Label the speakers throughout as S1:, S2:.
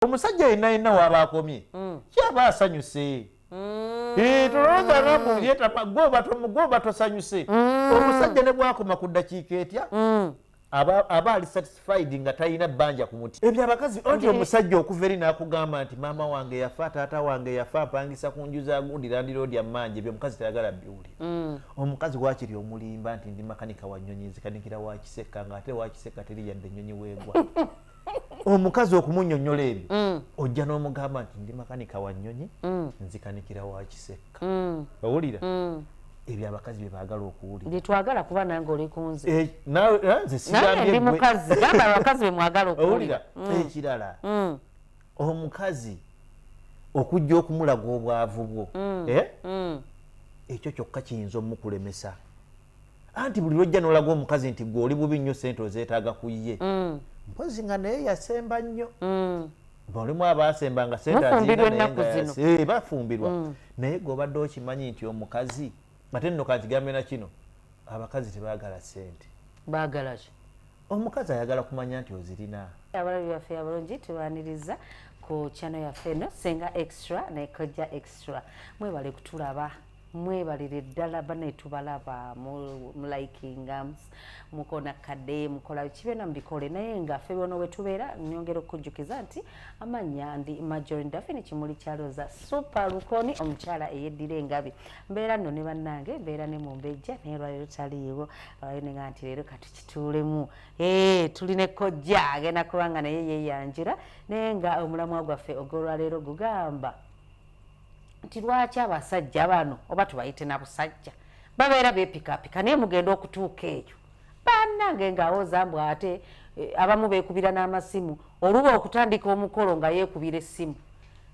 S1: omusajja yenna yenna waaba akomye mm. kyaba asanyuse mm. eh, tolowooza namu yetama gwoba tosanyuse mm. omusajja ne bwakoma ku ddakiika etya aba ali satisfied nga talina bbanja ku muti ebyo abakazi oti omusajja okuva eri nakugamba nti maama wange yafa taata wange yafa mpangisa ku nju za gundi landiroodi ammanja ebyo omukazi tayagala biwulira mm. omukazi wakiri omulimba nti ndi makanika wa nyonyi nzikanikira wakiseka nga ate wakiseka teri yadde enyonyi weegwa omukazi okumunyonyola ebyo mm. ojja n'omugamba nti ndi makanika wa nnyonyi mm. nzikanikira wa kisekka mm. owulira ebyo abakazi bye baagala okuwulira byetwagala kuba nange oli
S2: kunze eh, eh, nzesindi
S1: mukazi
S2: gamba abakazi be mwagala okuwulira ekirala
S1: omukazi okujja okumulaga obwavu bwo eh? ekyo kyokka kiyinza omukulemesa anti buli lwojja nolaga omukazi nti gwe oli bubi nnyo sente ozeetaaga ku ye mm. mpozi nga naye yasemba nnyo mm. balimu abaasemba nga sente bafumbirwa eh, mm. naye gwe obadde okimanyi nti omukazi ate nno kankigambe na kino abakazi tebagala sente bagalaki
S2: omukazi ayagala
S1: kumanya nti ozirina abalabi baffe
S2: abalungi tubaniriza ku chano yaffe eno senga extra nekojja extra mwebale kutulaba mwebalire ddala bane tubalaba mulikinga mukona kade mukola kibeena mubikole naye nga ffe bona wetubeera nyongera okukujjukiza nti amanya ndi majorin dafini kimuli kyaloza supa lukoni omukyala eyeddira engabi mbeera nno ne bannange mbeera ne mumbejja naye lwaliro taliiwo lwaliro nenga nti leero katukituulemu ee tuli ne kojja agenda kubanga naye yeyanjira naye nga omulamwa gwaffe ogwolwaleero gugamba nti lwaki abasajja bano oba tubayite na busajja babeera bepikapika naye mugenda okutuuka eyo banange ngawoza mbu ate eh, abamu bekubira n'amasimu oluba okutandika omukolo nga yekubira essimu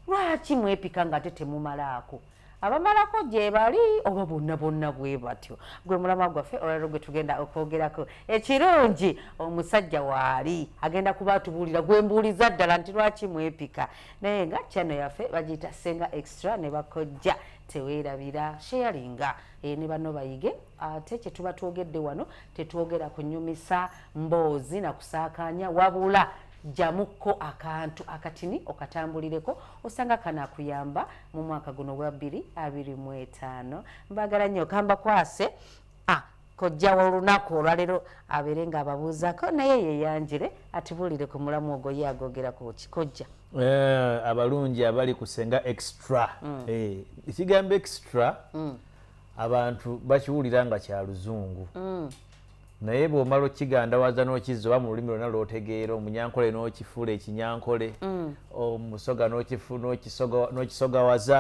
S2: lwaki mwepika nga te temumalaako abamalako gyebali oba bonna bonna bwe batyo gwe mulama gwaffe olwalero gwe tugenda okwogerako ekirungi omusajja waali agenda kuba atubuulira gwe mbuuliza ddala nti lwaki mwepika naye nga channel yaffe bagiyita senga extra ne bakojja teweerabira sheyalinga e, ne bano bayige ate kye tuba twogedde wano tetwogera kunyumisa mboozi na kusaakaanya wabula jamuko akantu akatini okatambulireko osanga kana kuyamba mu mwaka guno gwa 2025 mbagala nnyo kamba kwase ah, kojja wolunaku olwalero abeere nga ababuuzako naye yeyanjire atibuulire ku mulamu ogwo ye agogera kuki kojja eh, abalungi
S1: abali kusenga extra mm. eh, ekigambo extra mm. abantu bakiwulira nga kya luzungu mm. naye bwomala okigandawaza nokizza oba mu lulimi lwona lwotegeera omunyankole nokifuula ekinyankole omusoga nokisogawaza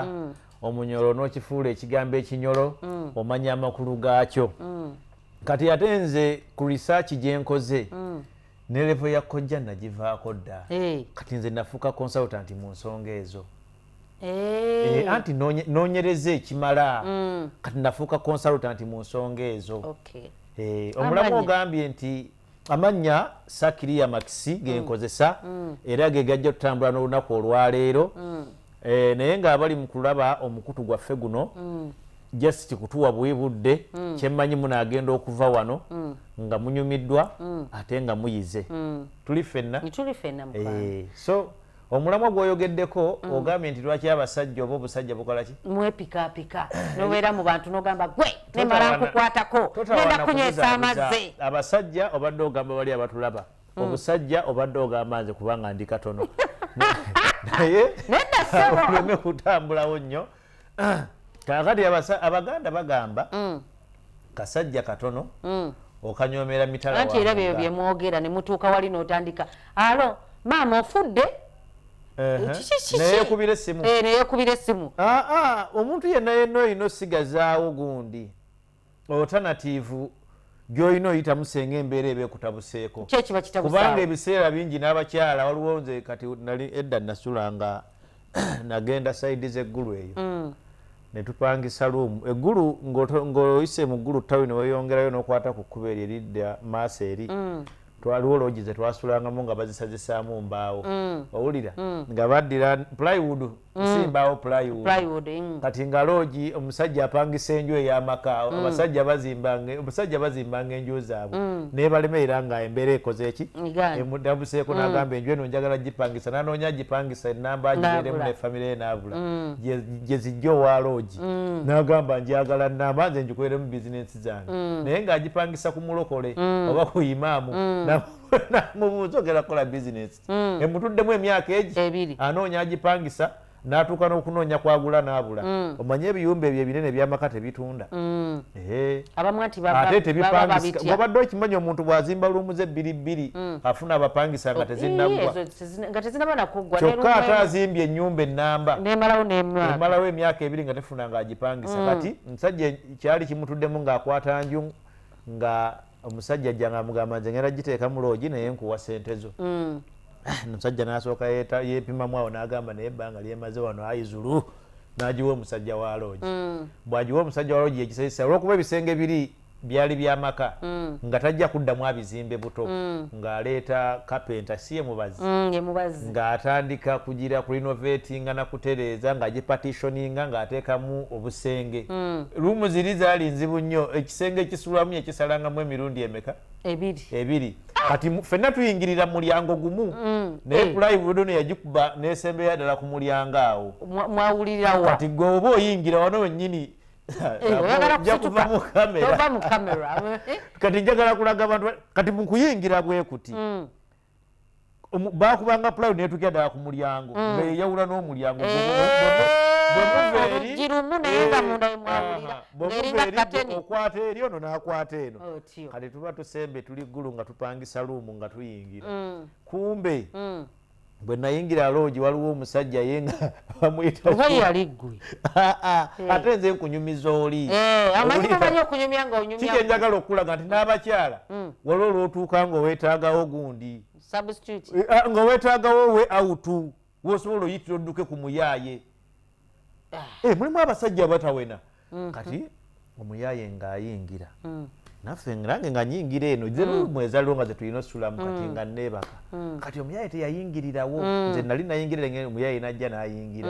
S1: omunyolo nokifuula ekigambo ekinyolo mm. omanya amakulu gaakyo mm. kati ate nze ku risaaki gyenkoze mm. ne levo ya kojja nagivaako dda hey. kati nze nafuuka consultant mu nsonga ezo hey. e, anti nonyereza ekimala mm. kati nafuuka consultant mu nsonga ezo okay. e, omulamu ogambye nti Amannya Sakiriya Makisi ge nkozesa era ge gajja tutambula n'olunaku olwaleero eh, naye ng'abali mu kulaba omukutu gwaffe guno just kutuwa buwi budde kye mmanyi munaagenda okuva wano nga munyumiddwa ate nga muyize tuli ffenna Tuli ffenna mukwano. Eh, so omulamwa gwoyogeddeko mm. ogambye nti lwaki abasajja oba obusajja bukolaki mwepikapika
S2: nobeera mu bantu nogamba gwe nemala nkukwatako genda kunywesa amazzi abasajja obadde
S1: ogamba bali abatulaba mm. obusajja obadde ogamba nze kubanga ndi katono naye oleme kutambulawo nnyo ah. kakati abaganda bagamba mm. kasajja katono mm. okanyomera mitalaanti era byeyo byemwogera
S2: ne mutuuka wali n'otandika alo maama ofudde
S1: neyekubira essimu eh, neyekubira essimu
S2: ah, ah, omuntu
S1: yenna yenna olina osigazaawo gundi otanativu gyolina oyitamu senga embeera eba ekutabuseeko kubanga ebiseera bingi n'abakyala waliwo nze kati nali edda nasula nga nagenda saidi zeggulu eyo mm. netupangisa luumu eggulu ng'oyise mu ggulu tawi neweyongerayo nokwata ku kkuba eryo eridda maaso eri mm. twaliwo loogi zetwasulangamu nga bazisazisaamu mbaawo mm. owulira nga baddira plywood nsimbaawo mm. plywood mm. kati nga loogi omusajja apangisa enju ey'amaka mm. abasajja bazimbanga omusajja bazimbanga enju zaabwe naye balemerera nga embeera ekoze eki emudabuseeko n'agamba enju eno njagala gipangisa nanoonya gipangisa enamba agibeeremu ne famire ye naabula gye zijja owa loogi n'agamba njagala namba nze ngikolere mu bizinensi zange naye ng'agipangisa ku mulokole oba ku imaamu namubuuza ogera kukola bizinensi mm. emutuddemu emyaka egi anoonya agipangisa natuuka n'okunoonya kwagula n'abula mm. omanye ebiyumba ebyo ebinene ebyamaka tebitunda mm. ate tebipangisiwabadde okimanyi omuntu bw'azimba luumuze ebbiri bbiri mm. afuna abapangisa nga oh, tezinnaggwakyokka ate azimbye ennyumba ennamba emalawo emyaka ebiri nga tefuna nga agipangisa kati musajja kyali kimutuddemu ng'akwata nju nga omusajja ajja nga amugamba nze ngenda giteeka mu loogi naye nkuwa sente zo mm. ah, omusajja nasooka yepimamu awo nagamba naye ebbanga lyemaze wano ayi zulu nagiwa omusajja wa loogi mm. bwagiwa omusajja wa loogi yekisesa olwokuba ebisenge biri byali byamaka mm. nga tajja kuddamu abizimbe buto ng'aleeta kapenta si ye mubazi mm, ng'atandika kugira ku rinovetinga na kutereeza ng'agipatitioninga ng'ateekamu obusenge mm. luumu ziri zaali nzibu nnyo ekisenge ekisulwamu yakisalangamu emirundi emeka ebiri kati fenna tuyingirira mulyango gumu mm. naye eh. pulayi budono yagikuba nesembeya ddala ku mulyango awo mwawulirawa kati gwe oba oyingira wano wennyini kati njagala kulaga abantu kati mukuyingira bwekuti mm. bakubanga pulayo netukira ddala ku mulyango mm. nga yeyawula n'omulyango okwata eri ono nakwata eno oh, kati tuba tusembe tuli ggulu nga tupangisa luumu nga tuyingira mm. kumbe bwe nayingira loogi waliwo omusajja ye nga bamuyitaye yali ggwe ah, ah. eh. ate nze nkunyumiza oli eh, amanyiamanyi okunyumya nga onyumya kiki njagala okukulaga nti n'abakyala hmm. waliwo olwotuuka nga owetagawo gundi eh, ah, nga owetagawo we awutu wosobola oyitira odduke ku muyaaye eh, mulimu abasajja abatawena mhm. kati omuyaye ngaayingira mm. naffe nange nga nyingira eno mm. mwezaliwo nga zetulina osulamu kati mm. nga neebaka mm. kati omuyaye teyayingirirawo nze nali nayingirira nge omuyaye najja nayingira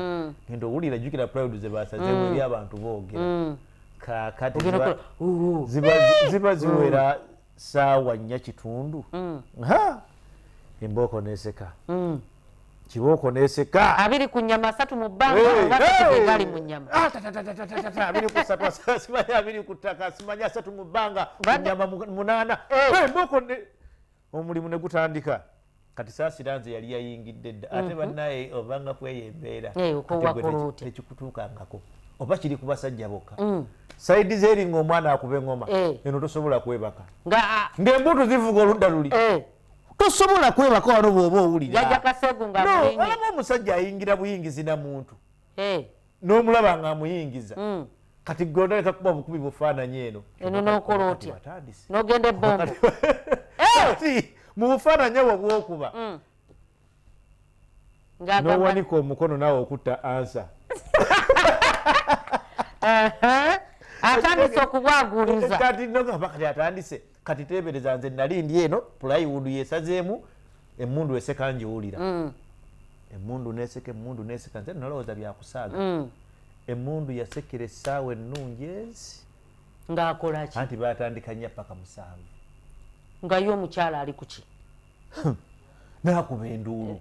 S1: ngenda owulira jukira proud zebasazemu eri abantu boogera kakati ziba ziwera saawa nnya kitundu mm. ha embooko neseka mm. kibooko neseka abiri ku nyama asatu
S2: mu bbangaali mu nyamaabiri
S1: ku satu simanyi abiri ku ttaka simanyi asatu mu bbanga nyama munaana embooko omulimu ne gutandika kati saasira nze yali yayingidde dda ate mhm. bannaye obanga kweyo embeera tekikutuukangako oba kiri ku basajja bokka mm. saidi zeeri ngaomwana akuba eŋoma eh. eno tosobola kwebaka ngaembuutu zivuga oludda luli eh. tosobola kwebaka wano bwoba owuliraolaba omusajja ayingira buyingizi na muntu eh. n'omulaba nga amuyingiza mm. kati gwe otandika kuba bukubi bufaananyi eno eno nokola otya
S2: nogenda ebombo eh!
S1: mu bufaananyi obwo bwokuba mm. nowanika omukono nawe okutta ansa
S2: atandise okubwaguliza kati nogamba kati
S1: atandise kati tebereza nze nali ndi eno plywood yesazeemu emundu eseka njiwulira mm. emundu neseka emundu neseka nze nalowooza byakusaaga mm. emundu yasekera essaawa ennungi ezi ngaakolaki
S2: anti batandika nya paka
S1: musanvu nga
S2: ye omukyala ali kuki nakuba
S1: enduulu eh.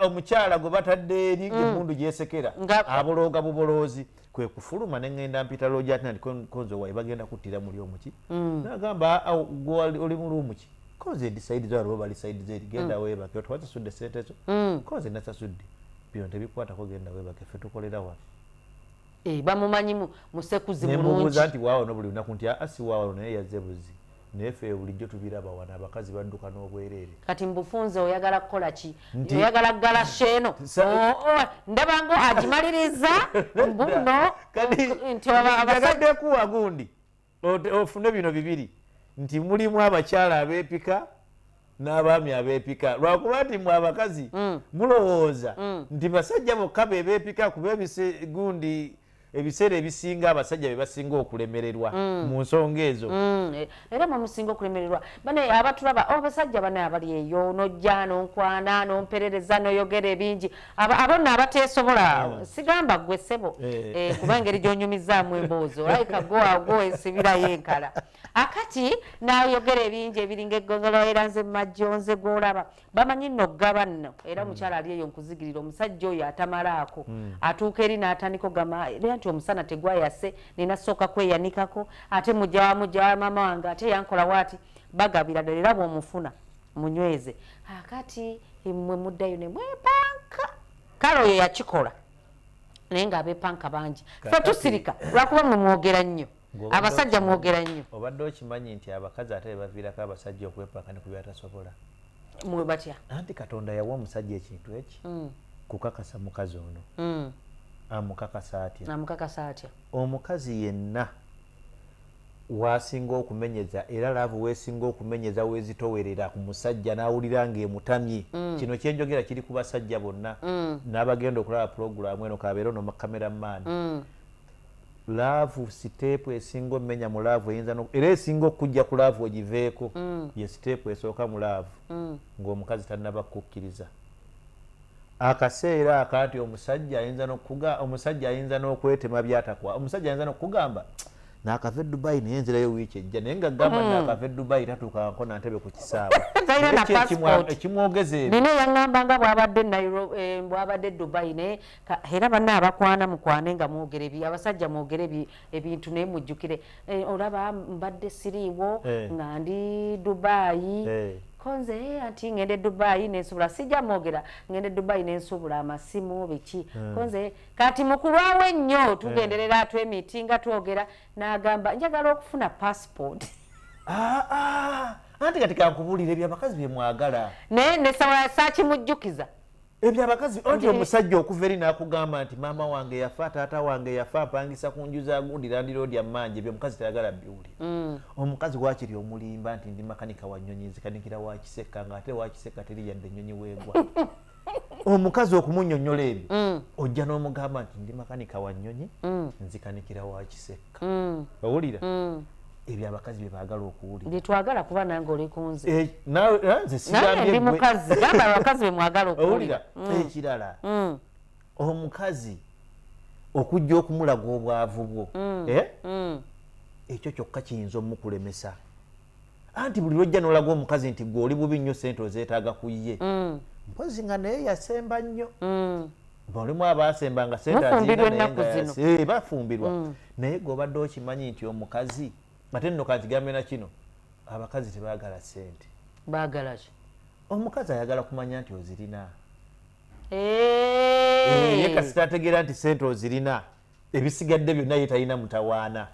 S2: omukyala
S1: gwe batadde eri mm. emundu gyesekera abolooga buboloozi kwe kufuluma ne ŋŋenda mpita loogi ati nandi konze waye bagenda kuttira muli omuki mm. nagamba oli mu luumu ki konze edisaidi zo aliwo bali saidi zeri genda mm. webake otwazisudde sente zo konze nasasudde bino tebikwatako genda webake fe tukolera waffe Eh, bamumanyi
S2: mu-
S1: musekuzi nemubuuza mulungi nti
S2: waawano
S1: buli lunaku nti aa si waawano naye
S2: yazze
S1: buzzi naye ffe bulijjo tubiraba wano abakazi badduka n'obwereere kati mbufunze
S2: oyagala kukola ki Nti- oyagala kugala sheeno Sa- Oh, oh, ndaba ngo agimaliriza mbuno Kati, nti
S1: aba- abasajja- njagadde kuwa gundi ofune bino bibiri nti mulimu abakyala abepika n'abaami abepika lwakuba nti mwe abakazi mm. mulowooza mm. nti basajja bokka bebepika kuba ebisgundi ebiseera ebisinga abasajja bebasinga okulemererwa mm. mu nsonga ezo mm. e, era mwemusinga
S2: okulemererwa bane abatulaba abasajja bane abali eyo nojja nonkwana nomperereza noyogera ebingi abo nno abateesobola oh. sigamba gwe ssebo eh. Eh, kuba engeri gyonyumizaamu emboozi olayika goago esibirayo enkala akati nayogera ebingi ebiringa eggogolo era nze mumajjo nze gwolaba bamanyi nno okugaba nno era hmm. omukyala ali eyo nkuzigirira omusajja oyo atamalaako hmm. atuuka eri n'atandika ogamba era nti omusana tegwayase nina sooka kweyanikako ate mujja wamujja wa maama wange ate yankola waati bagabira ddala era bwomufuna munyweze akati mwe muddayo ne mwepanka kale oyo yakikola naye nga abepanka bangi fe tusirika lwakuba mwe mwogera nnyo abasajja mwogera nnyo obadde okimanyi nti
S1: abakazi ate bebaviirako abasajja okwepanka ne kubyatasobola mwe batya
S2: anti katonda yawa
S1: omusajja ekintu eki mm. kukakasa mukazi ono mm. amukakasa atya amukakasa atya omukazi yenna wasinga okumenyeza era laavu wesinga okumenyeza wezitowerera ku musajja n'awulira ng'emutamye. Mm. Kino kye njogera kiri ku basajja bonna mm. n'abagenda okulaba pulogulaamu eno kabeera ono makamera maani. Mm. Laavu siteepu esinga omenya mu laavu eyinza era esinga okujja ku laavu ogiveeko ye siteepu esooka mu laavu ng'omukazi tannaba kukukkiriza. akaseera ako anti omusajja ayinza nokuga omusajja ayinza nokwetema byatakwa omusajja ayinza nokugamba nakava edubai naye nzirayo wiiki ejja naye nga gamba mm. nakava edubai tatukanko nantebe ku kisaawe ekimwogeza ebina yaŋamba nga bwabadde
S2: eh, bwabadde dubai naye era banna abakwana mukwane nga mwogere bi abasajja mwogere bi ebintu naye mujjukire eh, olaba mbadde siriiwo eh. nga ndi dubaayi eh. konze eh, anti ngende dubai nensubula sija mogera ngende dubai nensubula amasimu biki mm. konze kati mukulwawe nnyo eh. tugenderera yeah. twemiti nga twogera nagamba njagala okufuna passport ah, ah.
S1: anti kati kankubulire byabakazi byemwagala naye nesawa
S2: sakimujjukiza ebyo abakazi
S1: anti omusajja okuva eri nakugamba nti maama wange yafa taata wange yafa apangisa ku nju za gundi landiroodi ammanja ebyo omukazi tayagala biwuli mm. omukazi wakiri omulimba nti ndi makanika wa nyonyi nzikanikira wakiseka nga ate wakiseka teri yadde enyonyi wegwa omukazi okumunyonyola ebyo mm. ojja n'omugamba nti ndi makanika wa nyonyi mm. nzikanikira wakiseka owulira ebyo abakazi bye baagala okuwulira bye twagala kuba nange
S2: oli ku nze eh, eh, ndi
S1: mukazi gamba
S2: abakazi be mwagala okuwulira mm. ekirala
S1: mm. omukazi okujja okumulaga obwavu bwo mm. Eh? ekyo kyokka kiyinza omukulemesa anti buli lwojja nolaga omukazi nti gwe oli bubi nnyo sente ozeetaaga ku ye mpozi nga naye yasemba nnyo balimu abasemba nga sente aziina naye nga bafumbirwa eh, naye gwe obadde okimanyi nti omukazi ate nno kankigambe na kino abakazi tebagala sente bagala ki
S2: omukazi ayagala
S1: kumanya nti ozirina eh, ye kasita ategeera nti sente ozirina ebisigadde byonna ye talina mutawaana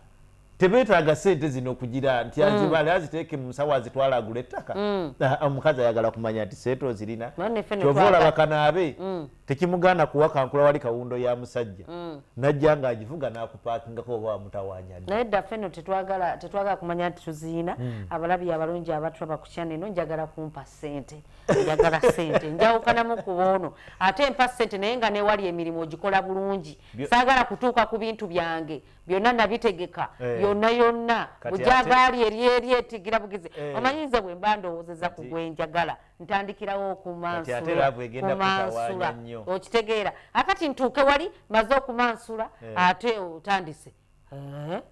S1: tebetaaga sente zino okugira nti mm. azibale aziteeke mu nsawo azitwala agula ettaka mm. ah, omukazi ayagala kumanya nti sente ozirina kyova olaba kanaabe mm. tekimugaana kuwakankula wali kawundo ya musajja mm. najja nga agivuga nakupakingako oba wamutawanya naye dda feno
S2: tetwagala tetwagala kumanya nti tuziina mm. abalabi abalungi abatulaba ku kyana eno njagala kumpa sente njagala sente njawukanamu kuba ono ate mpa sente naye nga newali emirimu ogikola bulungi saagala kutuuka ku bintu byange byonna nabitegeka eh. yonna yonna bujagaali eri eri etigira bugizi eh. omanyize bwe mba ndowoozeza ku gwenjagala hey. ntandikirawo okumansulaumansula okitegeera akati ntuuke wali maze okumansula eh. ate otandise eh?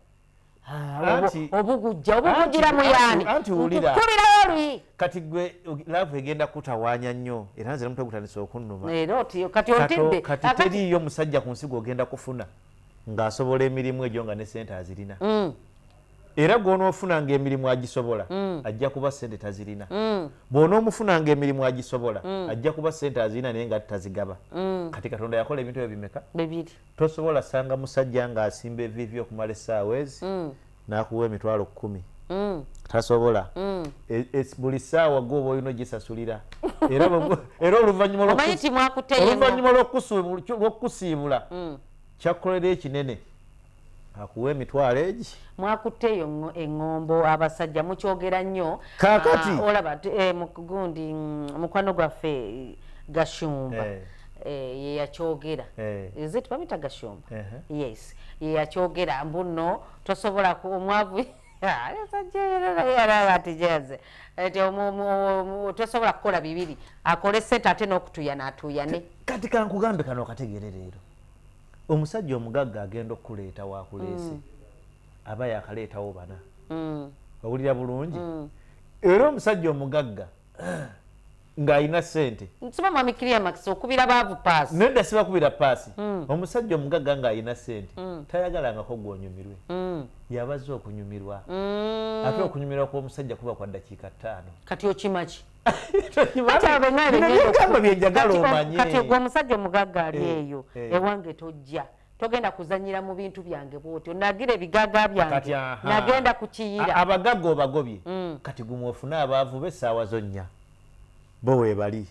S2: obugujja obugugira muyani kubirawo luyi kati gwe
S1: laavu egenda kutawaanya nnyo era nze namutwe gutandisa okunnuma kati ontidde
S2: kati teriiyo
S1: musajja ku nsigo ogenda kufuna ng'asobola emirimu egyo nga ne sente azirina mm. era gwonoofunanga emirimu agisobola mm. ajja kuba sente tazirina mm. bwonoomufunanga emirimu agisobola mm. ajja kuba sente azirina naye nga tazigaba kati katonda yakola ebintu ebyo bimeka tosobola
S2: sanga
S1: musajja nga asimba evivi okumala essaawa ezi nakuwa emitwalo kumi tasobola e, e, buli ssaawa gwoba olina ogisasulira era oluvannyuma lwokukusiibula kyakukolera ekinene akuwa emitwalo egi mwakutte eyo
S2: eŋŋombo abasajja mukyogera nnyo kakati ah, olaba
S1: eh,
S2: gundi mm, mukwano gwaffe gashumba eh. eh, yeyakyogera ezit bamita gashumba yes yeyakyogera mbu nno tosobola omwavu sajjeyererayaratijeze ti tosobola kukola bibiri akole sente ate n'okutuyana atuyane kati kankugambe
S1: kano okategeere leero Omusajja omugagga agenda okukuleeta wakuleese mm. aba yakaleetawo bana mm. owulira bulungi mm. era omusajja omugagga ng'alina sente nsiba mwami climax
S2: okubira baavu paasi nedda sibakubira paasi
S1: mm. omusajja omugagga ng'alina sente mm. tayagalangako gwonyumirwe mm. yabazza okunyumirwa mm. ate okunyumirwa kw'omusajja kuba kwa ddakiika ttaano kati okimaki kati ogwo omusajja omugagga
S2: ali eh, eyo eh. ewange tojja togenda kuzanyira mu bintu byange bwotyo nagira ebigaga byange nagenda kukiyira abagaga obagobye
S1: mm. kati gumu ofune abaavu be essaawa zo nnya bo webali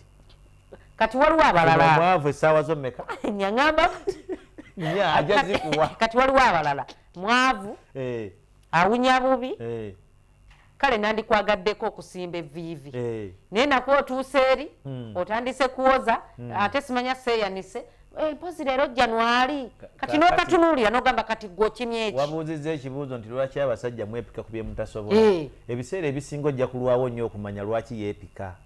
S1: kati
S2: waliwo abalalaavu essaawa zo meka
S1: nyagamba ajazikuwa kati waliwo abalala
S2: mwavu eh. awunya bubi kale nandikwagaddeko okusimba eviivi eh. naye nakuwa otuusa eri hmm. otandise kuwoza hmm. ate simanya seeyanise eh, mpozi leero janwali kati nokatunuulira nogamba kati gwokimye eki wabuuzizza ekibuuzo nti
S1: lwaki abasajja mwepika ku byemutasobola eh. ebiseera ebisinga ojja kulwawo nnyo okumanya lwaki yeepika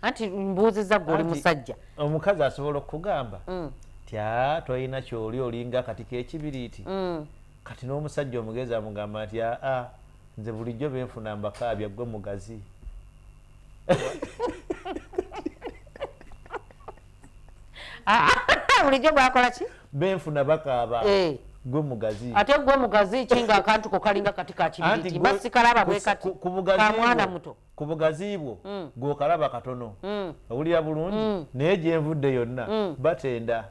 S1: anti
S2: mbuuzizza gwe oli musajja omukazi asobola
S1: okukugamba hmm. tya tolina kyoli olinga kati kekibiriiti Kati nomusajja omugezi amugamba nti aa nze bulijjo benfuna mbakaabya gwe mugazi
S2: bulijjo gwakola ki benfuna bakaaba
S1: eh. gwe mugazi ate gwe mugazi
S2: ki nga akantu ko kalinga kati kakibiriti mba sikalaba bwe kati ka mwana muto ku bugazi bwo mm.
S1: gwokalaba katono mm. owulira bulungi mm. naye gyenvudde yonna mm. batenda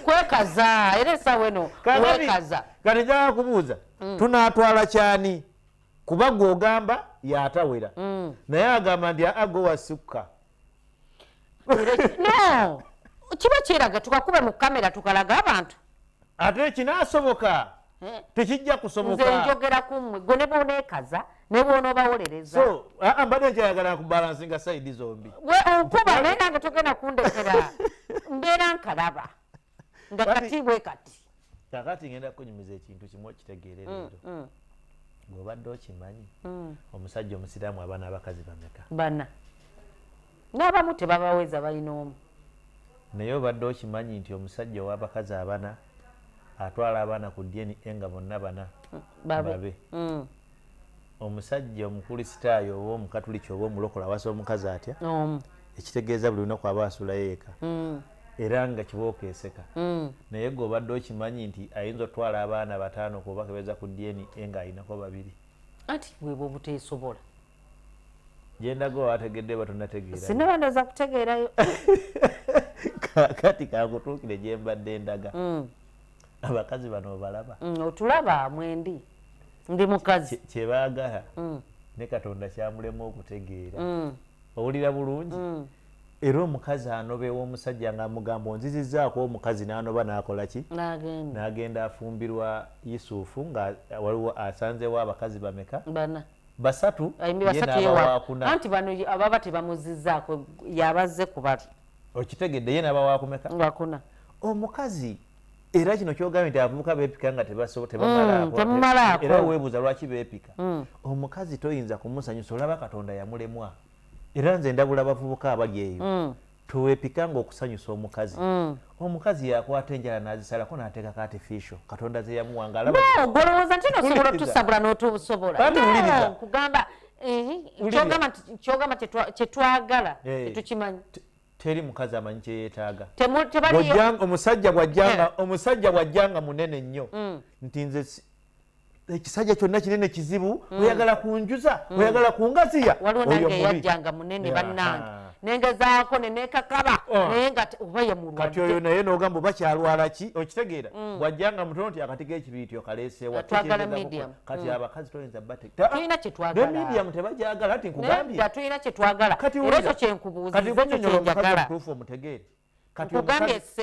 S1: kwekaza
S2: era esawa eno wekaza kati njaa
S1: kubuuza mm. tunatwala kyani kuba gwe ogamba yatawera mm. naye agamba nti aago wasukka no
S2: kiba kyeraga tukakuba mu kamera tukalaga abantu ate
S1: ekinasoboka eh? tekijja kusoboka nze njogera ku mmwe
S2: gwe ne bwoneekaza ne bwonoobawolereza ah, ah, mbadde
S1: nkyayagala kubalansi nga sayidi zombi okuba naye
S2: nange togenda kundekera mbeera nkalaba nga kati bwe kati kakati ngenda
S1: kunyumiza ekintu kimu okitegeere mm, leero mm. ng'obadde okimanyi mm. omusajja omusiraamu abaana abakazi bameka bana
S2: n'abamu tebabaweza balina omu naye
S1: obadde okimanyi nti omusajja ow'abakazi abana atwala abaana ku dna nga bonna bana babe omusajja omukulisitaayo oba omukatuliki oba omulokole awasa omukazi atya omu ekitegeeza buli lunaku aba asulayo eka mm. era nga kibooko eseka mm. naye gwe obadde okimanyi nti ayinza otwala abaana bataano kuba kebeza ku dna nga alinako babiri anti webwe
S2: obuteesobola
S1: gyendaga owategedde batonategeerasinabandoza kutegeerayo
S2: kakati
S1: kakutuukire gyembadde endaga mm. abakazi bano obalaba mm, otulaba
S2: mwendi ndi mukazi kyebagala mm.
S1: ne katonda kyamulema okutegeera mm. owulira bulungi mm. era omukazi anobewa omusajja nga amugambo nzizizaako omukazi nanoba nakolaki nagenda afumbirwa yusufu nga waliwo asanzewo abakazi bameka basatu
S2: nti bano ababa tebamuzizaako yabazze kubali okitegedde ye
S1: nabawakumeka
S2: omukazi
S1: era kino kyogambye nti abavubuka beepika nga tebamalaakoera mm, weebuuza lwaki beepika mm. omukazi toyinza kumusanyusa olaba katonda yamulemwa era nze ndabula abavubuka abali eyo mm. tewepika nga okusanyusa omukazi omukazi yakwata enjala nazisalako nateekako artificial katonda zeyamuwa ngaalabagolowooza nti
S2: nosobola otusabula notubusobolaugamba eh, kyogamba kyetwagala eh, tetukimanyi teri mukazi
S1: amanyi kyeyetaaga omusajja bwajjanga omusajja bwajjanga munene nnyo mm. nti nze ekisajja kyonna kinene kizibu mm. oyagala kunjuza
S2: mm.
S1: oyagala
S2: kungaziya
S1: waliwo
S2: nange
S1: yajjanga
S2: munene
S1: bannange
S2: nengezaako nenekakaba oh. naye nga oba yemulwadkati oyo naye nogamba oba
S1: kyalwala ki okitegeera bwajjanga mutono nti akati g'ekibiiti okaleesewa twagala medium kati mm. abakazi toyinza batulina
S2: kyetwagalmedium
S1: tebajagala nti nkugambye tulina kyetwagala
S2: era ekyo kyenkubuuzizekyenjagalaomutuufu omutegeere
S1: kati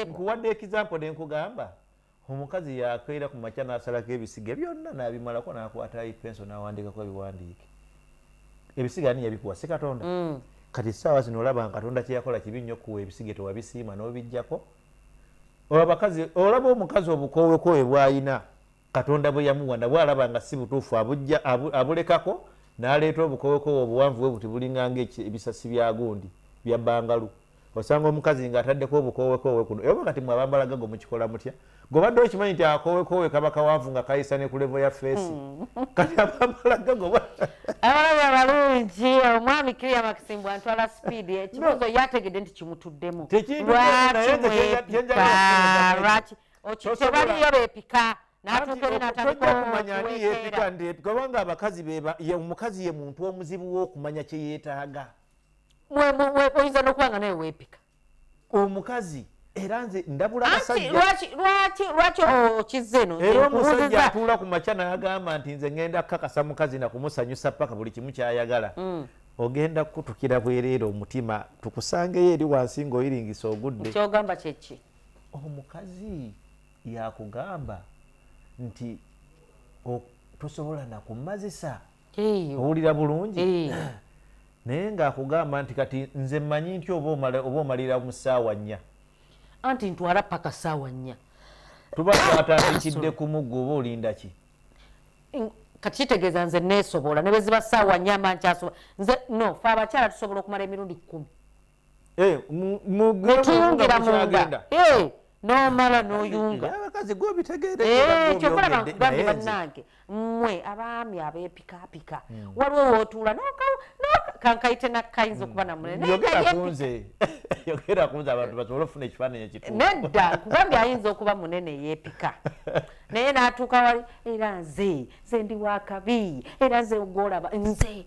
S1: nkuwadde example nenkugamba omukazi yakeera ku makya nasalako ebisiga byonna nabimalako nakwatayo penso nawandikako ebiwandiike ebisiga ani yabikuwa si katonda mm. kati saawa zino olaba nga katonda kyeyakola kibi nnyo kuwa ebisiga tewabisiima nobijjako olaba omukazi obukowekowebwayina Katonda bwe yamuwa nabwo alaba nga si butuufu abujja abu, abulekako n'aleeta obukowekoowe obuwanvu bwe buti bulinga ng'ebisasi bya gundi bya bbangalu. Osanga omukazi ng'ataddeko obukoowekoowe kuno. Oba kati mwe abambala gago mukikola mutya? Gwe obadde okimanyi nti akoowekoowe kaba kawanvu nga kayisa ne ku levo ya feesi. Hmm. Kati abambala gago ba... Abalaba
S2: balungi, omwami Kiria Makisimbu antwala sipiidi. Ekibuuzo yategedde nti kimutuddemu. Lwaki mwepika? Lwaki? okitebaliyo bepika
S1: kubanga abakazi omukazi ye muntu omuzibu wokumanya kyeyetaaga
S2: oyinza nokuba nga nawe wepika omukazi
S1: era nze ndabula abasajjalwaki
S2: okizza eno era omusajja atuula
S1: ku makya nagamba nti nze ngenda kukakasa mukazi nakumusanyusa paka buli kimu kyayagala mm. ogenda kukutukira bwereere omutima tukusangeyo eri wansi ngaoyiringisa ogudde kyogamba kyeki
S2: omukazi
S1: yakugamba nti tosobola nakumazisa owulira bulungi naye ngaakugamba nti kati nze mmanyi nti oba omalira mu ssaawa nnya anti
S2: ntwala paka ssaawa nnya tuba
S1: twatandikidde kumugga oba olinda ki
S2: kati kitegeeza nze neesobola ne bwe ziba ssaawa nnya mba nkyasobola nze no fe abakyala tusobola okumala emirundi kkumi eh, mutuyungira munda eh, nomala noyunga
S1: kyokolaba nkugambye
S2: bannange mmwe abaami abepikapika hmm. waliwo wotuula kankayite nakayinza okuba hmm. namuneneyogerakunze
S1: abantu basobole okufuna ekifaananyi ekitu nedda nkugambye
S2: ayinza okuba munene yepika naye natuuka wali era nze nze ndi wakabi era nze ogwolaba nze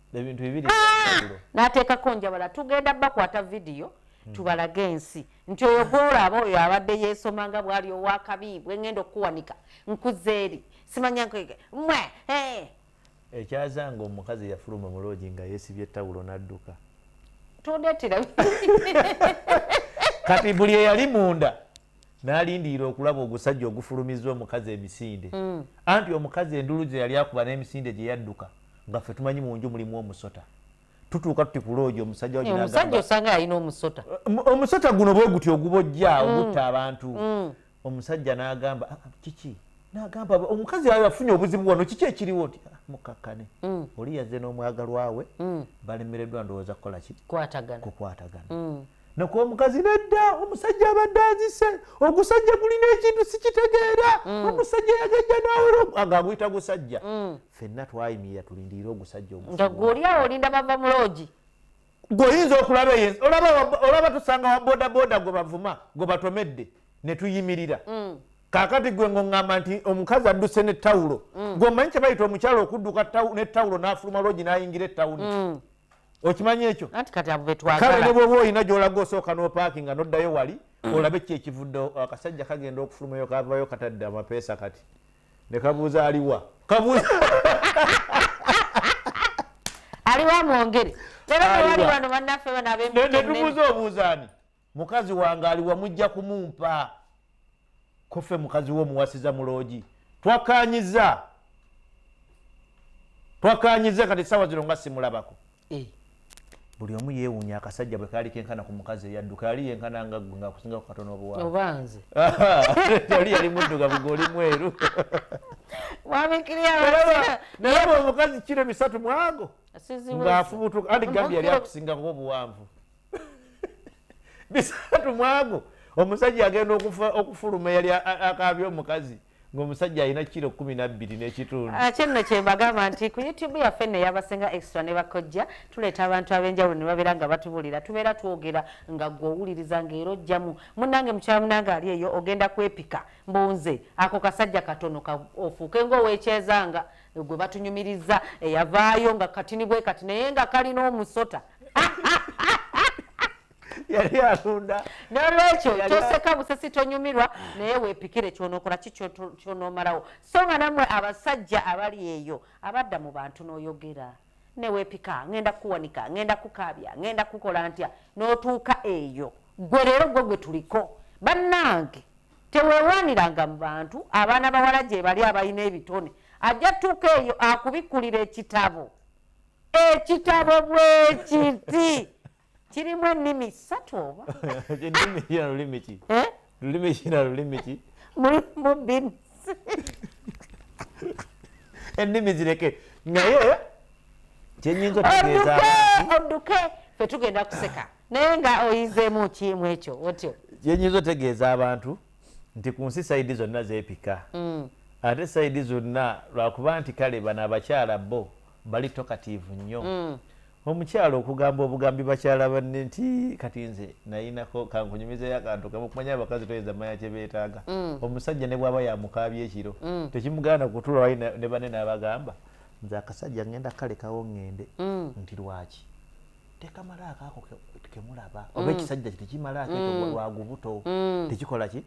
S1: ebintu bibiri ah! nateekako
S2: njabala tugenda bakwata vidiyo hmm. tubalage ensi nti oyo gworaaba oyo abadde yeesoma nga bwali owakabi bwengenda okukuwanika nkuze eri simanya mwe eh. ekyazanga
S1: omukazi yafuluma muloogi nga yeesibye tawulo n'adduka tondetera kati buli eyali munda nalindirira okulaba ogusajja ogufulumizza omukazi emisinde mm. anti omukazi endulu gye yali akuba n'emisinde gye yadduka nga ffe tumanyi mu nju mulimu omusota tutuuka tuti ku loogi omusajja omusajja osanga alina
S2: omusota eh, omusota guno
S1: bwe guti ogubojja mm. ogutta abantu mm. omusajja n'agamba ah, ah, kiki n'agamba omukazi ayo afunye obuzibu wano kiki ekiriwo ti ah, mukakkane oli yazze n'omwagalwawe balemereddwa ndowooza kukola ki kukwatagana nakuba mukazi nedda omusajja abadde azise ogusajja gulina ekintu sikitegeera mm. omusajja yagajja nawolangaguyita gusajja mm. fenna twayimirira tulindirire ogusajja ogusajjagwoliawo
S2: olinda bava mulogi gweoyinza
S1: okulaba eyo olaba tusanga wabodaboda gwe bavuma gwe batomedde netuyimirira mm. kakati gwe ngongamba nti omukazi adduse ne tawulo gwe omanyi kyebayita omukyalo okudduka ne tawulo nafuluma logi nayingira etawuni okimanyi ekyo kale ne bwoba olina gyolaga osooka nopaaki nga noddayo wali mm. olabe ki ekivudde akasajja kagenda okufulumayo kavayo katadde amapeesa kati ne kabuuza aliwa kabuuza
S2: aliwa mwongere era tewali wano bannaffe bano abemnetubuuza
S1: obuuzaani mukazi wange aliwa mujja kumumpa kofe mukazi wo omuwasiza muloogi twakanyiza twakanyiza kati sawa zino nga simulabako eh. buli omu yewunya akasajja bwe kaali kenkana ku mukazi eyadduka yali yenkana nga gwe ngaakusinga ku katono obuwanzi oli yali muddugavu gwe oli mweru naye bwe omukazi kiro bisatu mwago ng'afubutuka andi gambi yali akusingako obuwanvu bisatu mwago omusajja agenda okufuluma yali akaabya omukazi ngaomusajja alina kiro kumi nabbiri n'ekitundu ah, kyenno kyembagamba
S2: nti ku youtube yaffe nno eyabasinga extra ne bakojja tuleeta abantu ab'enjawulo ne babeera nga batubuulira tubeera twogera nga gwe owuliriza ng'era ojjamu munnange mukyala munange ali eyo ogenda kwepika mbunze ako kasajja katono ofuuke ng'owekyezanga gwe batunyumiriza eyavaayo nga katini bwe kati naye nga kalina omusota
S1: yali atunda nolwekyo
S2: toseka busesi tonyumirwa naye wepikire kyonokola ki kyonomalawo so nga namwe abasajja abali eyo abadda mu bantu noyogera newepika ngenda kuwanika ngenda kukabya ngenda kukola ntya notuuka eyo gwe leero gwe gwe tuliko bannange tewewaniranga mu bantu abaana bawala gyebali abalina ebitone ajja tuuka eyo akubikulira ekitabo ekitabo bwekiti kirimu ennimi ssatu
S1: oba mulimu bin ennimi zireke naye kyenyinza okutegeeza odduke
S2: fe tugenda kuseka naye nga oyizeemu kiimu ekyo otyo kyenyinza otegeeza
S1: abantu nti ku nsi sayidi zonna zeepika mm. ate sayidi zonna lwakuba nti kale bano abakyala bo bali tokatiivu nnyo mm. omukyala okugamba obugambi bakyala banne nti kati nze nayinako kankunyumizeyo akantu kamu kumanya abakazi toyinza manya kyebeetaaga mm. omusajja ne bwaba yamukaabya ekiro mm. tekimuganda kutula wali ne banne n'abagamba nze akasajja ngenda kalekawo ŋŋende mm. nti lwaki tekamalaako ako kemulaba mm. oba ekisajja tekimalaako ekyo mm. lwagubuto mm. tekikola ki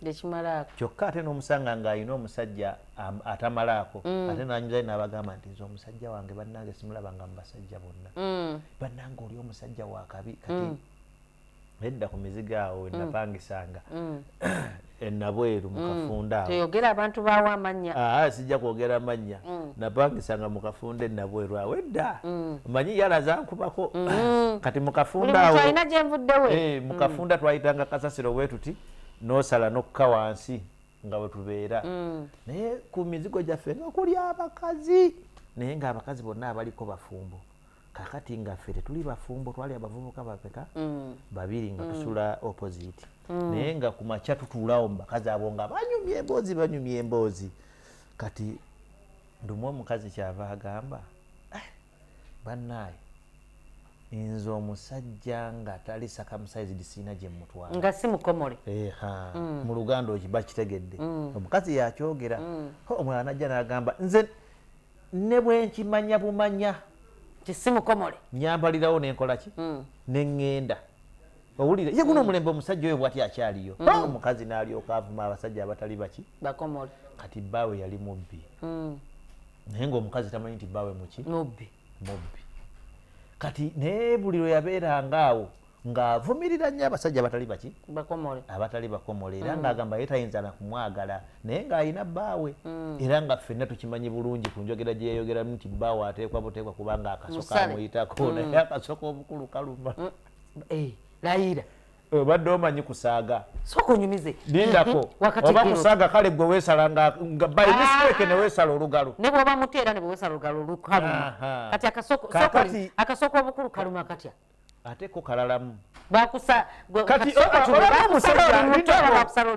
S1: kyokka ate n'omusanga ng'alina omusajja atamalaako ate nanyuzayo n'abagamba nti nze omusajja wange bannange simulabanga mu basajja bonna bannange oli omusajja wakabi kati nedda ku mizigo awo wenapangisanga mm. mm. enabweru mukafunda mm. toyogera abantu bawo
S2: amanya aa ah, sijja kwogera amanya
S1: mm. napangisanga mukafunda enabweru awo edda mm. manyi yala zankubako mm. kati mukafunda awo alina gyenvuddewe hey,
S2: eh, mukafunda mm. twayitanga
S1: kasasiro wetuti nosala nokka wansi nga wetubeera mm. naye ku mizigo gyaffe nga kuli abakazi naye nga abakazi bonna abaliko bafumbo kakati nga ffe tetuli bafumbo twali abavubuka bapeka mm. babiri nga mm. tusula opposite mm. naye nga ku makya tutuulawo mu bakazi abo nga banyumya emboozi banyumya emboozi kati ndumu omukazi kyava agamba eh, bannaaye nze omusajja nga tali sakamusized siina gye mutwala nga si mukomole
S2: eha mm. mu
S1: luganda okiba kitegedde mm. omukazi yakyogera mm. omulala najja n'agamba nze Ne bwe nkimanya bumanya. Nti si mukomole.
S2: Nnyambalirawo ne
S1: nkola ki? Ne ŋŋenda. Owulire ye guno omulembe omusajja oyo bw'atyo akyaliyo. Omukazi n'alyoka avuma abasajja abatali baki? Bakomole. Kati
S2: bbaawe yali
S1: mubbi. Naye ng'omukazi tamanyi nti bbaawe muki? Mubbi. Mubbi. Kati naye buli lwe yabeeranga awo. ng'avumirira nnyo abasajja abatali baki bakomole abatali bakomole era mm. ng'agamba ye tayinza na kumwagala naye ng'alina bbaawe mm. era nga ffenna tukimanyi bulungi ku njogera gye yayogeramu nti bbaawe ateekwa buteekwa kubanga akasoka amuyitako mm. naye akasoka obukulu kaluma eh,
S2: layira obadde
S1: omanyi kusaaga sokonyumize
S2: lindako mm-hmm.
S1: oba kusaaga kale gwe weesala nga by ah. mistake ne weesala olugalo ne bwoba muteera ne bwe
S2: weesala olugalo lukaluma kati akasoko obukulu kaluma katya ate ko kalalamu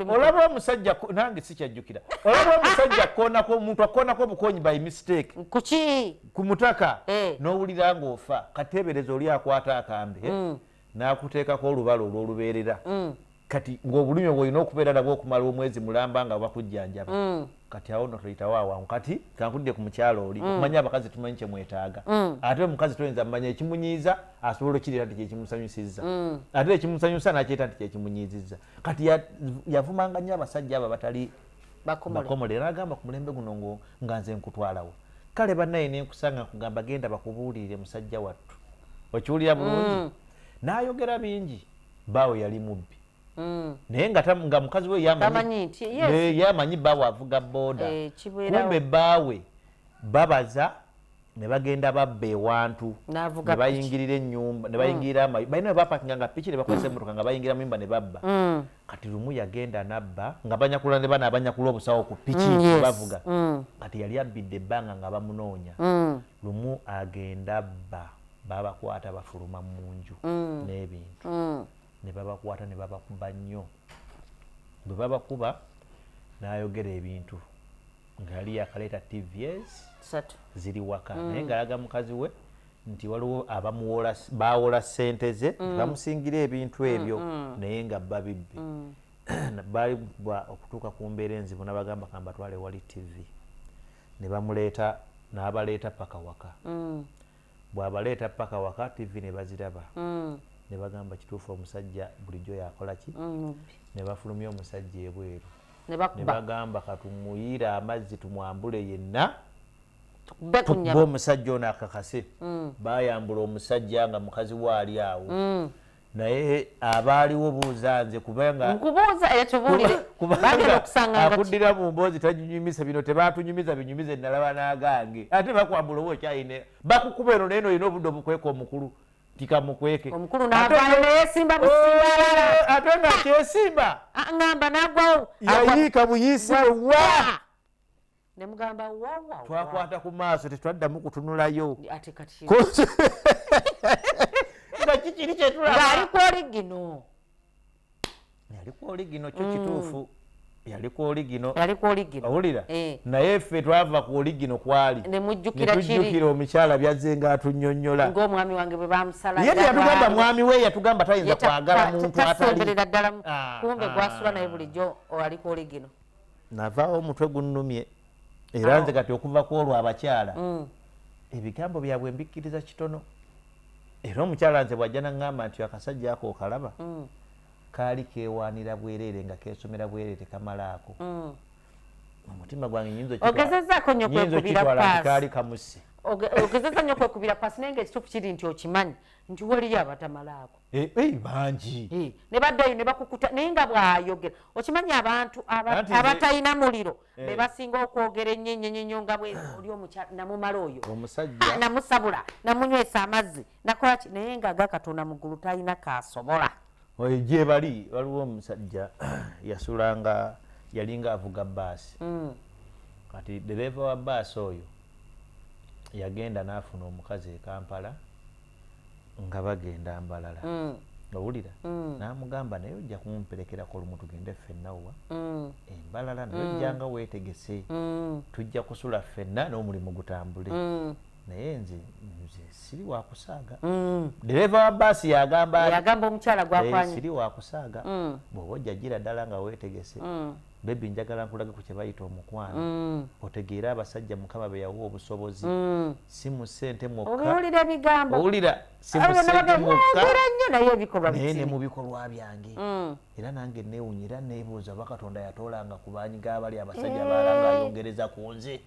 S1: olaba omusajja nange sikyajjukira olaba omusajja konako omuntu akonako obukonyi by mistake kuki ku
S2: mutaka
S1: eh. n'owulira ng'ofa kateebereza oli akwata akambe eh, mm. n'akuteekako olubala olw'olubeerera mm. kati ng'obulumi obwo olina okubeera nabwo okumala omwezi mulamba nga bakujjanjaba mm. kati awo no toyitawo awangu kati kankudde ku mukyalo oli mm. okumanya abakazi tumanyi kye mwetaaga mm. ate omukazi toyinza mumanya ekimunyiiza asobola okukirira nti kyekimusanyusizza ate ekimusanyusa nakyeta nti kyekimunyiizizza kati yavumanga nnyo abasajja abo abatali bakomole era agamba ku mulembe guno nga nze nkutwalawo kale banaye nenkusanga nkugamba genda bakubuulirire musajja wattu okiwulira bulungi nayogera bingi baawe yali mubbi mm. naye nga mukazi we yamanyi baawe avuga booda eh, kumbe baawe babaza ne bagenda babba ewantu ne bayingirira ennyumba ne bayingirira mm. amayi balina bapakinga nga piki ne bakozesa emmotoka nga bayingira mu nyumba ne babba mm. kati lumu yagenda nabba nga banyakula ne bana abanyakula obusawo ku piki mm, bavuga kati yali abbidde ebbanga nga bamunoonya lumu agenda abba babakwata bafuluma mu nju mm. n'ebintu mm. ne babakwata ne babakuba nnyo bwe babakuba n'ayogera ebintu nga yali yakaleeta tvs ziri waka mm. naye ng'alaga mukazi we nti waliwo abamuwola bawola ssente ze bamusingira ebintu ebyo naye nga babibbi baali okutuuka ku mbeera enzibu nabagamba kambatwale wali tv ne bamuleeta n'abaleeta paka waka bwabaleeta paka waka TV nebaziraba nebagamba kituufu omusajja bulijjo yakolaki nebafulumya omusajja ebweru nebagamba katumuyire amazzi tumwambule yenna tukube omusajja ono akakase bayambula omusajja nga mukazi we ali awo naye abaaliwo buuza nze kubangaakudira mu mboozi tanyunyumisa bino tebatunyumiza binyumiza enalaba nagange ate bakwambula oba okyayina bakukuba eno naye nolina obudde obukweka omukulu tikamukweke oh,
S2: ate nga
S1: kyesimba ah,
S2: yayiika buyisi
S1: wewa nemugamba
S2: wawa twakwata ku maaso
S1: tetwaddamu kutunulayo ate kati nga kikiri kyetulaba ngaali ku oligino yali ku oligino kyo kituufu mm. yali ku oligino yali ku oligino awulira eh. naye ffe twava ku oligino kwali nemujjukira kiri netujjukira omukyala byazze nga atunyonyola ng'omwami wange bwe
S2: bamusala ye yatugamba mwami
S1: we yatugamba tayinza kwagala muntu atali tasemberera ddala ah,
S2: kumbe ah. gwasula naye bulijjo ali ku oligino navaawo omutwe
S1: gunnumye era nze kati okuva ku olwo abakyala mm. ebigambo byabwe mbikkiriza kitono era omukyala nze bwajja naŋŋamba nti akasajja ako okalaba mm. kaali keewaanira bwereere nga keesomera bwereere tekamalaako mm. omutima gwange nyinza
S2: okitwalakaali kamusi
S1: ogezeza nyo
S2: kwekubira pasi naye nga ekituufu kiri nti okimanyi nti waliyo abatamalaako Eh, eh, bangi
S1: eh, ne baddayo ne
S2: bakukuta naye nga bwayogera okimanyi abantu abatalina muliro be basinga okwogera ennyenyenyenyo nga bwe oli omukyala namumala oyo ah, namusabula namunywesa amazzi nakola ki naye nga aga katonda mu ggulu talina kaasobola oyo gye bali
S1: waliwo omusajja yasula nga yalinga avuga baasi mm. kati dereeva wa baasi oyo yagenda n'afuna omukazi e kampala nga bagenda mbalala mm. owulira mm. namugamba naye ojja kumperekerako lumu tugende ffenna wa mm. embalala naye mm. ojjanga mm. wetegese mm. tujja kusula ffenna n'omulimu gutambule mm. naye nze nze siri wakusaaga mm. dereva wa baasi yagamba yagamba omukyala gwakwanye
S2: siri wakusaaga
S1: mm. bwoba ojja gira ddala nga wetegese mm. Baby njagala nkulage ku kyebayita omukwano mm. otegeere abasajja mukama beyawa obusobozi mm. si mu ssente mwokkaowulira naye ne mu bikolwa byange mm. era nange newunya era nebuuza oba katonda yatoolanga ku banyiga abali abasajja eh. balanga ayongereza ku nze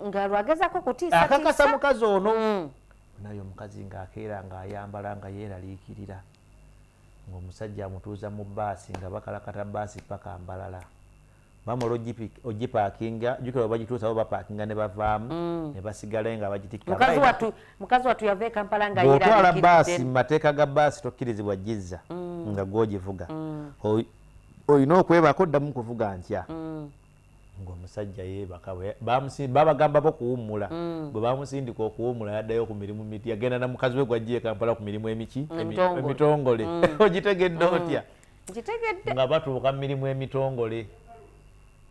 S1: akakasa mukazi ono naye omukazi ng'akeera ng'ayambala nga yeeraliikirira ng'omusajja amutuuza mu bbaasi nga bakalakata bbaasi paka Mbarara. Bamala ogipaakinga, jjukira bwe bagituusa bo bapaakinga ne bavaamu mm. ne basigala eyo nga bagitikkira. Mukazi wattu mukazi wattu yava
S2: e Kampala nga yeeralikiridde. Bw'otwala bbaasi mu
S1: mateeka ga bbaasi tokkirizibwa gizza mm. nga gw'ogivuga. Mm. Olina okwebako oddamu kuvuga ntya. ng'omusajja yeebaka babagamba bo kuwummula mm. bwe bamusindika okuwummula yaddayo ku mirimu miti yagenda na mukazi we gwajja e kampala ku mirimu emiki emitongole mm. ogitegedde mm. otya nga batuuka mu mirimu emitongole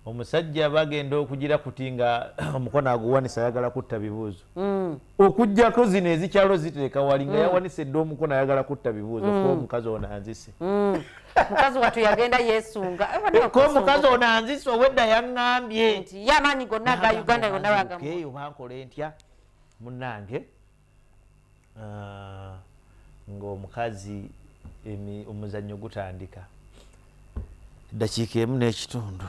S1: omusajja bagenda okugira kuti nga omukono aguwanisa ayagala kutta bibuuzo mm. okujjako zino ezikyalo zitereka wali nga mm. yawanise edda omukono ayagala kutta bibuuzo mm. ko omukazi ono anzise mm. mukazi
S2: watu yagenda yesunga eh, ko omukazi
S1: ono anzise owedda yaŋŋambye nti yamaanyi gonna
S2: ga uganda yonna bagamukeeyo bankole
S1: ntya munnange ah, ng'omukazi omuzannyo gutandika eddakiika emu n'ekitundu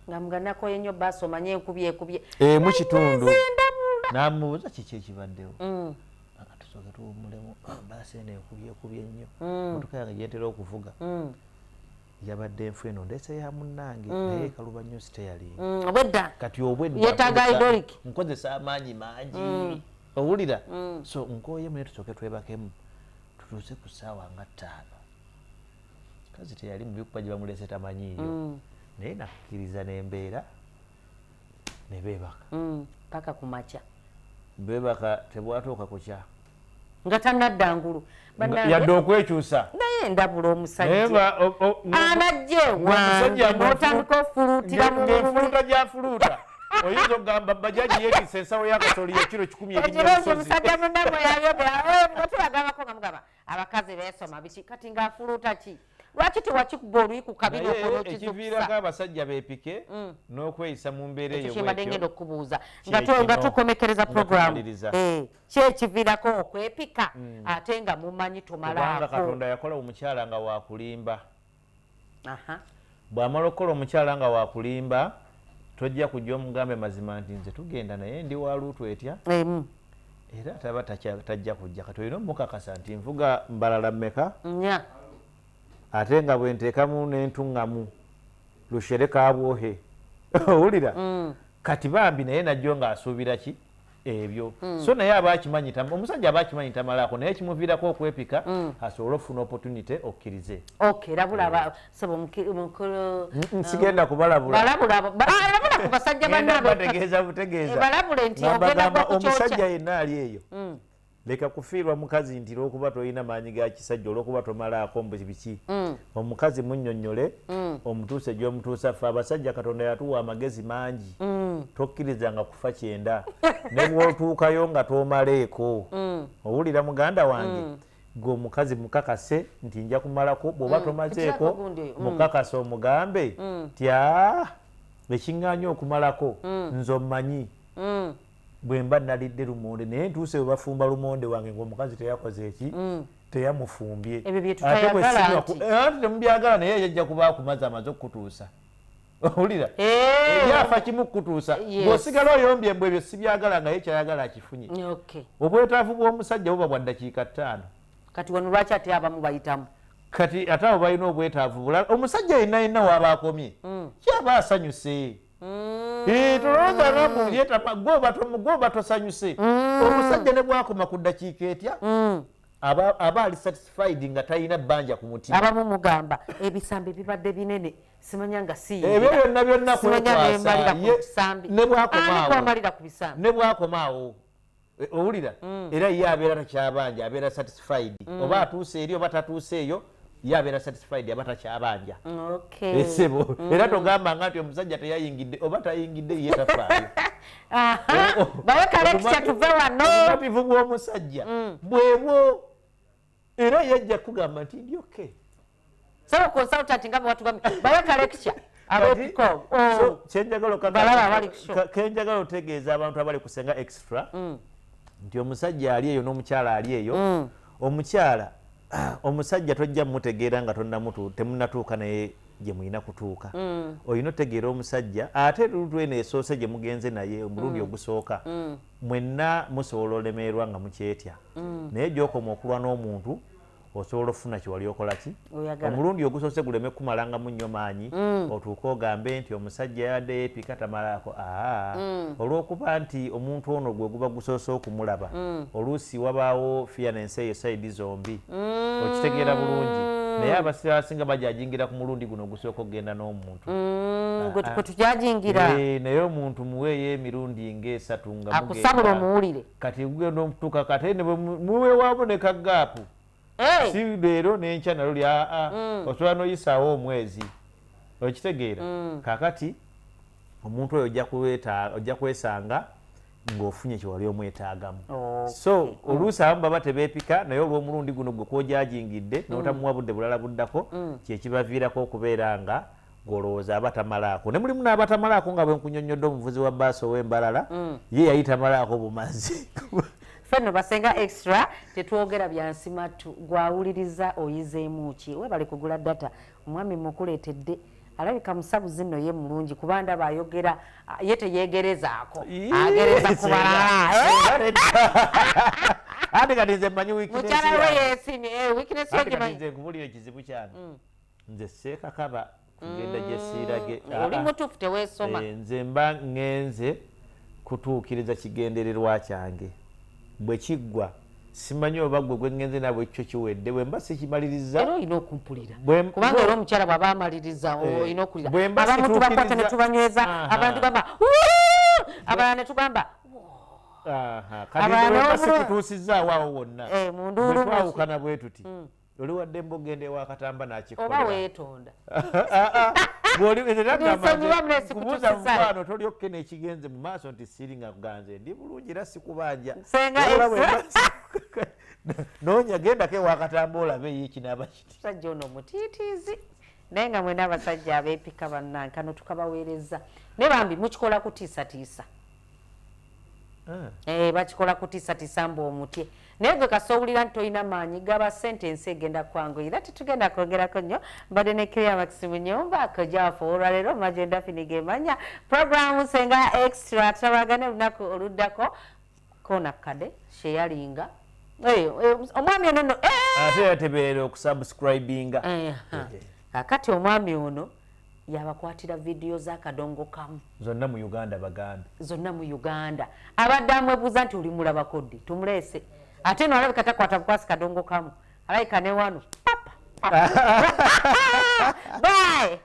S2: nga mga nakoye nyo basi omanye enkubi ekubye emu kitundu
S1: namubuza kiki ekibaddewo mm. tusoke tuwumulemu basi eno enkubi ekubye nnyo mm. motoka yange gyentera okuvuga mm. yabadde enfu eno ndese ya munnange naye ekaluba nnyo siteyalinga obwedda kati obweddankozesa
S2: amaanyi
S1: mangi owulira so nkoyemu naye tusoke twebakemu tutuuse ku ssaawa nga ttaano kazi teyali mubi kuba gyebamulese tamanyiiyo mm. naye nakkiriza nembeera nebebaka mm, paka kumakya bebaka tebwatuuka
S2: kukya nga tanadda ngulu yadde
S1: okwekyusa naye ndabula
S2: omusajjaanajjewaotandika ofulutira mufuluta
S1: gyafuluta oyinza okugamba bajaji yetisa ensawo yakasoli ekiro kikumi ebinyoomusajja munamwe
S2: yayogera eh, nga tulagabako nga mugaba abakazi besoma biki kati nga afuluuta ki lwaki tewakikuba oluyi ku kabina okonokiviirako
S1: abasajja bepike mm. n'okweyisa mu mbeera eyokyembadde ngenda okukubuuza
S2: nga tukomekereza programu eh, kyekiviirako okwepika mm. ate nga mumanyi tumalaakokatonda yakola omukyala
S1: nga wakulimba Bw'amala okukola omukyala nga wakulimba, tojja kujja omugambe mazima nti nze tugenda naye ndi wa luutu etya era taba tajja kujja kati olina omukakasa nti nvuga mbalala mmeka ate nga bwe nteekamu n'entuŋŋamu lushereka abwohe owulira mm. kati bambi naye najjo ng'asuubira ki ebyo mm. so naye aba akimanyi omusajja aba akimanyi tamalaako naye kimuviirako okwepika mm. asobole okufuna opportunity okkirize sigenda uh,
S2: kubalabulabalabula ku basajja
S1: banabategeeza butegeezaomusajja yenna ali eyo mm. leka kufiirwa mukazi nti lwokuba tolina maanyi ga kisajja olwokuba tomalaako mbu biki mm. omukazi munyonyole mm. omutuuse gyomutuusa ffe abasajja katonda yatuwa amagezi mangi mm. tokkirizanga kufa kyenda ne bwotuukayo nga tomaleeko mm. owulira muganda wange mm. gwe omukazi mukakase nti nja kumalako bwoba mm. tomazeeko mm. mukakase omugambe mm. tya ekiŋŋanya okumalako mm. nze omanyi mm. bwemba nalidde lumonde naye ntuuse webafumba lumonde wange ngaomukazi teyakoze eki mm. teyamufumbye ate bwesimubyagala eh, naye yajja kuba akumazi amaze okukutuusa owulira eh. ebyafa kimu kukutuusa ngaosigala oyombye mbu ebyo sibyagala ngaye kyayagala akifunye obwetaavu bw'omusajja buba bwa ddakiika ttaano kati wano lwaki
S2: ate abamu bayitamu kati ate abo
S1: balina obwetaavu bulala omusajja yenna yenna waaba akomye mm. kyaba asanyuse Mm. Eh, tolowooza rabu yetama gwoba tosanyuse mm. omusajja ne bwakoma ku ddakiika etya mm. aba ali satisfied nga talina bbanja ku mutima abamu mugamba
S2: ebisambi bibadde binene simanya nga siebyo eh, byonna byonna
S1: kwekwasa ne bwakomaawo Eh, owulira mm. era ye abeera takyabanja abeera satisfied mm. oba atuuse eri oba tatuuse eyo ye abeera satisfied aba takyabanja esebo eh, mm. era togamba nga nti omusajja teyayingidde oba tayingidde ye tafaayo obumativu bw'omusajja bwebwo era yajja kugamba nti ndi okay sebo consultant nga bwatugambye bawe ka lecture oh. kenjagala otegeeza abantu abali kusenga extra mm. nti omusajja ali eyo n'omukyala ali eyo mm. omukyala omusajja tojja mutegeera nga tonamutu temunatuuka naye gye mulina kutuuka mm. olina otegeera omusajja ate lutu eno esoose gye mugenze naye omulundi ogusooka Mwenna musobola olemeerwa nga mukyetya naye gyokoma okulwa n'omuntu osobola okufuna kyewali okolaki omulundi ogusoose guleme kukumalangamu nnyo maanyi mm. otuuke ogambe nti omusajja yabadde yeepika tamalaako aa mm. olw'okuba nti omuntu ono gwe guba gusoose okumulaba mm. oluusi wabaawo fiya nensi eyo saidi zombi okitegeera bulungi naye abasira abasinga bajajingira ku mulundi guno ogusooka okugenda n'omuntu mm, gwe ah, tujajingira ah. eh, naye omuntu muweeyo emirundi ngaesatu nga akusabula omuwulire
S2: kati gugenda omutuka
S1: kate muwewaabo ne kagaapu si leero nenkya nalo ly aa ah, mm. osobola noyisaawo omwezi okitegeera mm. kakati omuntu oyo ojja kwesanga ng'ofunye kyewali omwetaagamu so oluusi abamu baba tebeepika naye olw'omulundi guno gwe kwojajingidde mm. n'otamuwa budde bulala buddako mm. kyekibaviirako okubeera nga golowooza aba tamalaako ne mulimu n'abatamalaako nga bwenkunyonnyodde omuvuzi wa baasi ow'embalala mm. ye yali tamalaako bumazi fenno
S2: basenga extra tetwogera byansimattu gwawuliriza oyizeemu ki webale kugula data omwami mukuleetedde alabika musabuzi nno ye mulungi kuba ndaba ayogera ye teyegerezaako agereza ku balala
S1: ate kati nze mmanyi mukyala we yesimye
S2: eh, wikinesi yogimanyize nkubulira ekizibu
S1: kyange mm. nze seekakaba kugenda gye siirage mm. ah, oli ah. mutuufu
S2: teweesoma eh, nze mba
S1: ngenze kutuukiriza kigendererwa kyange Bwe kiggwa, simanyi oba ggwe gwe ŋŋenze nabo ekkyo kiwedde. Bwe mba sikimalirizza. Era olina okumpulira.
S2: Kubanga era omukyala bw'aba amalirizza eh, olina okuwulira. Bwe mba situukirizza. Abamu tubakwata ne tubanyweza, ah. abantu bamba abalala ne tugamba kati bwe mba
S1: sikituusizza awaawo wonna. Eh, bwe twawukana bwe tuti. Hmm. luli waddembe okugenda ewa katamba nakikolera oba wetonda kubuuza mukwano tolyokke nekigenze mu maaso nti siri nga kuganze ndi bulungi era sikubanja nonya gendako ewakatamba olabe ye kinaba kiti sajja ono mutiitiizi
S2: naye nga mwena abasajja abepika bannanka notukabaweereza naye bambi mukikola kutiisatiisa Eh. eh, bakikola kutiisatiisa mbu omutye naye gwe kasi owulira nti tolina maanyi gaba sente ensi egenda kwangu era tetugenda kwogerako nnyo mbadde ne kiriya makisi mu nyumba kojaafu olwaleero magenda fini gemanya programu senga extra tutabagane olunaku oluddako koona kukade sheyalinga eh, eh, omwami ono no ate yateberera
S1: okusubscribinga
S2: kakati omwami ono yabakwatira video za kadongo kamu zonna mu uganda
S1: bagambe zonna mu uganda
S2: abadde amwebuuza nti olimulabako ddi tumuleese ate no alabika takwata bukwasi kadongo kamu alabika ne wano papa bae